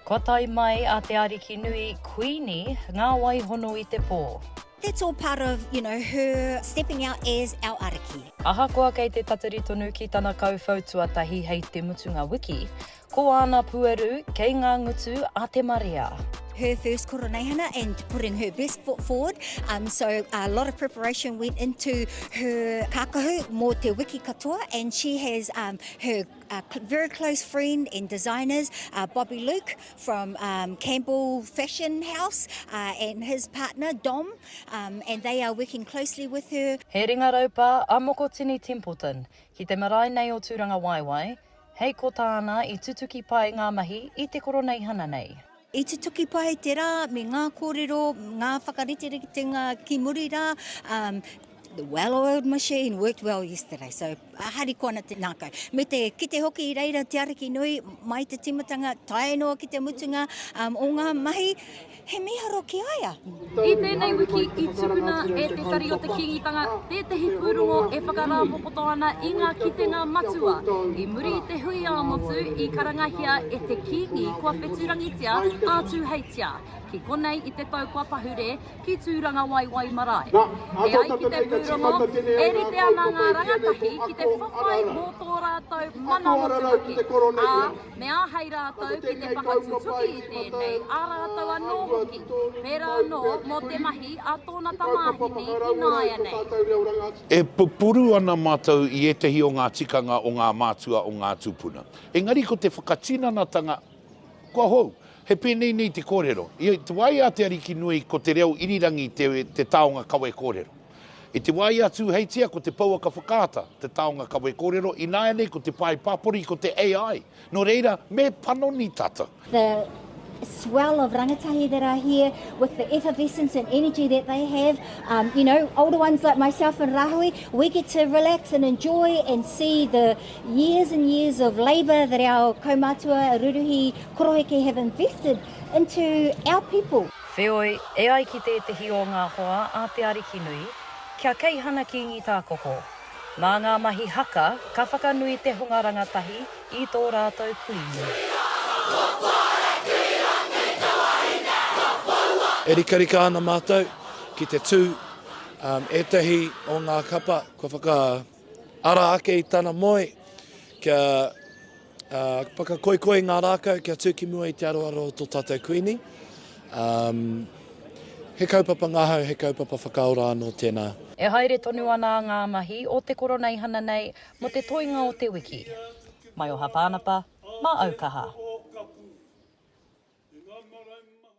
Kua tae mai a te Ariki nui, Kuini, ngā wai hono i te pō. That's all part of, you know, her stepping out as our Ariki. Ahakoa kei te tatari tonu ki tana kauwhau tuatahi hei te mutunga wiki, ko āna pueru kei ngā ngutu a te marea. her first koroneihana and putting her best foot forward. Um, so a lot of preparation went into her kākahu mō te wiki katoa and she has um, her Our very close friend and designers are Bobby Luke from Campbell Fashion House and his partner Dom and they are working closely with her. He ringa raupā a Mokotini Templeton ki te marae nei o Tūrangawaewae, hei ko tāna i tutuki pai ngā mahi i te koroneihana nei. I tutuki pai te rā me ngā kōrero, ngā whakariteritenga ki muri rā. Um, the well-oiled machine worked well yesterday, so uh, hariko ana te nākai. Me te kite hoki i reira te ariki nui, mai te timatanga, tae noa ki te mutunga um, o ngā mahi, he miharo ki aia. I tēnei wiki i tukuna e Te Tari o te Kīngitanga tētehi pūrongo e whakarāpopoto ana i ngā kitenga matua i muri i te hui ā-motu i karangahia e te Kīngi kua wheturangitia ā-tūheitia ki konei i te tau kua pahure ki Tūrangawaewae marae. E ai ki te pūrongo, e rite ana ngā rangatahi ki te whawhai mō tō rātou mana motuhake, ā, me āhei rātou ki te whakatutuki i tēnei, ā rātou anō hoki, pērā anō mō te mahi a tōna tamāhine ināianei. E pupuru ana mātou i ētahi o ngā tikanga o ngā mātua o ngā tūpuna. Engari ko te whakatinanatanga kua hou. He pēnei nei te kōrero, I te wā i a Te Arikinui ko te reo irirangi te taonga kawe kōrero. I te wā i a Tūheitia ko te pouaka whakaata te taonga kawe kōrero, ināianei ko te pae pāpori ko te AI. Nō reira, me panoni tātou. The swell of rangatahi that are here with the effervescence and energy that they have. Um, you know, older ones like myself and Rahui, we get to relax and enjoy and see the years and years of labour that our kaumatua, ruruhi, koroheke have invested into our people. Wheoi, e ai ki tētehi o ngā hoa a Te Arikinui, ki a Keihana Kīngi Tākoko, Mā ngā mahi haka ka whakanui te hunga rangatahi i tō rātou kuini. E rikarika ana mātou ki te tū ētahi o ngā kapa kua whakaara ake i tana moe kia Whakakoikoi ngā rākau kia tū ki mua i te aroaro o tō tātou Kuini. He kaupapa ngahau, he kaupapa whakaora anō tēnā. E haere tonu ana ngā mahi o te Koroneihana nei mō te toenga o te wiki. Maioha Pānapa, Māaukaha.